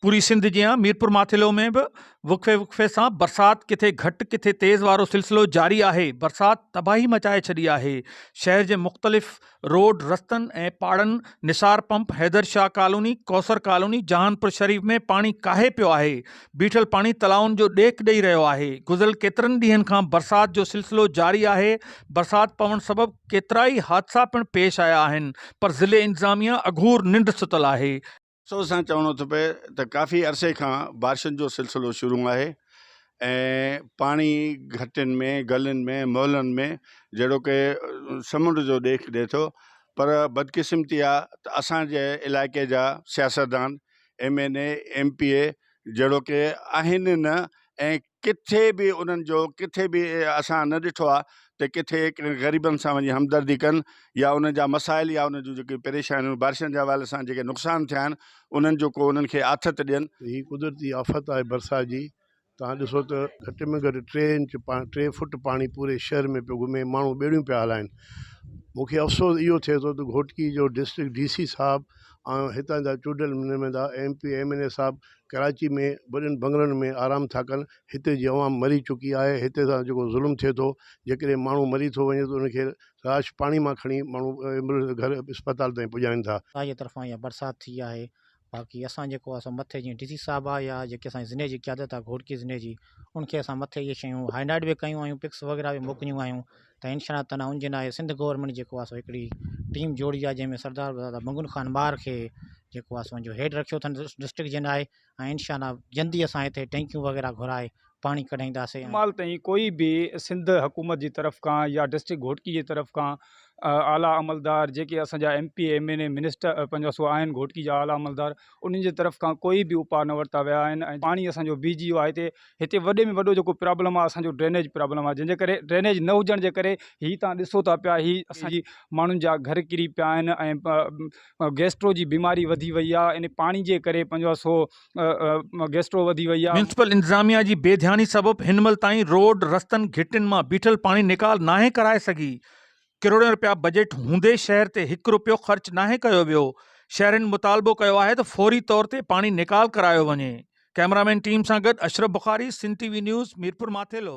پوري سنڌ جيان ميرپورماٿيلو ۾ به وقفي وقفي سان برسات ڪٿي گهٽ ڪٿي تيز وارو سلسلو جاري آهي برسات تباهي مچائي ڇڏي آهي شهر جي مختلف روڊ رستن ۽ پاڙن Nisar pump Haidar Shah colony Kausar colony Jahanpur Sharif ۾ پاڻي ڪاهي پيو آهي بيٺل پاڻي تلائن جو ڏيک ڏئي رهيو آهي گذريل ڪيترن ڏينهن کان برسات جو سلسلو جاري آهي برسات پوڻ سبب ڪيترائي حادثا پڻ پيش آيا آهن پر ضلعي انتظاميه اگهور ننڊ ستل آهي سوز سان چوڻو ٿو پئي ته ڪافي عرصي کان بارشن جو سلسلو شروع آهي ۽ پاڻي گهٽين ۾ گلين ۾ محلن ۾ جهڙو ڪي سمنڊ جو ڏيک ڏي ٿو پر بدقسمتي آ ته اسان جي علائقي جا سياستدان M N A M P A جهڙو ڪي آهن نه ۽ ڪٿي به انهن جو ڪٿي به اسان نه ڏٺو آهي ته ڪٿي ڪنهن غريبن سان وڃي همدردي ڪن يا انهن جا مسائل يا انهن جون جيڪي پريشانيون بارشن جي حوالي سان جيڪي نقصان ٿيا آهن انهن جو ڪو انهن کي آٿت ڏين. هي قدرتي آفت آهي برسات جي توهان ڏسو ته گهٽ ۾ گهٽ ٽي انچ ٽي فٽ پاڻي پوري شهر ۾ پيو گهمي ماڻهو ٻيڙيون پيا هلائين مون کي افسوس اهو ٿئي ٿو ته گهوٽڪي جو ڊسٽرڪٽ ڊي سي صاحب ۽ هتان جا چونڊيل نمائندا M P M N A صاحب ڪراچي ۾ وڏن بنگلن ۾ آرام ٿا ڪن هتي جي عوام مري چڪي آهي هتي سان جيڪو ظلم ٿئي ٿو جيڪڏهن ماڻهو مري ٿو وڃي ته ان کي لاش پاڻي مان کڻي ماڻهو ايمبولينس جي گهر اسپتال تائين پڄائين ٿا خدا جي طرفان اها برسات ٿي آهي باقي اسان جيڪو آهي سو مٿي جيئن ڊي سي صاحب آهي يا جيڪي اسان جي ضلعي جي قيادت آهي گهوٽڪي ضلعي جي ان کي اسان مٿي اهي شيون هائي لائٽ به ڪيون آهيون پڪس وغيره به موڪليون آهيون ته هن شھر تنها ان جي ناهي سنڌ گورنمينٽ جيڪو آهي سو هڪڙي ٽيم جوڙي آهي جنهن ۾ سردار دادا منگل خان مار کي جيڪو آهي سو جو هيڊ رکيو اٿن ڊسٽرڪٽ جي ناهي ۽ ان شاء الله جلدي اسان هتي ٽينڪيون وغيره گهرائي پاڻي ڪڍائينداسين فلحال تائين ڪوئي به سنڌ حڪومت جي طرف کان يا ڊسٽرڪٽ گهوٽڪي جي طرف کان اعليٰ عملدار جيڪي اسان جا M P M N A minister پنهنجا سو آهن گهوٽڪي جا اعليٰ عملدار انهن جي طرف کان ڪوئي به اپاء نه ورتا ويا آهن ۽ پاڻي اسان جو بيهجي ويو آهي هتي هتي وڏي ۾ وڏو جيڪو پرابلم آهي اسان جو ڊرينيج پرابلم آهي جنهن جي ڪري ڊرينيج نه هجڻ جي ڪري هي تان ڏسو ٿا پيا هي اسان جي ماڻهن جا گهر ڪري پيا آهن ۽ گيسٽرو جي بيماري وڌي وئي آهي ان پاڻي جي ڪري پنهنجو سو گيسٽرو وڌي وئي آهي ميونسپل انتظاميا جي بي ڌياني سبب هن مهل تائين روڊ رستن گهٽين مان بيٺل پاڻي نيڪال ناهي ڪرائي سگهي ڪروڙين رپيا بجيٽ هوندي شهر تي هڪ رپيو خرچ ناهي ڪيو ويو، شهرين مطالبو ڪيو آهي ته فوري طور تي پاڻي نيڪال ڪرايو وڃي. ڪئميرامين ٽيم سان گڏ Ashraf Bukhari, Sindh T V news, Mirpur Mathelo.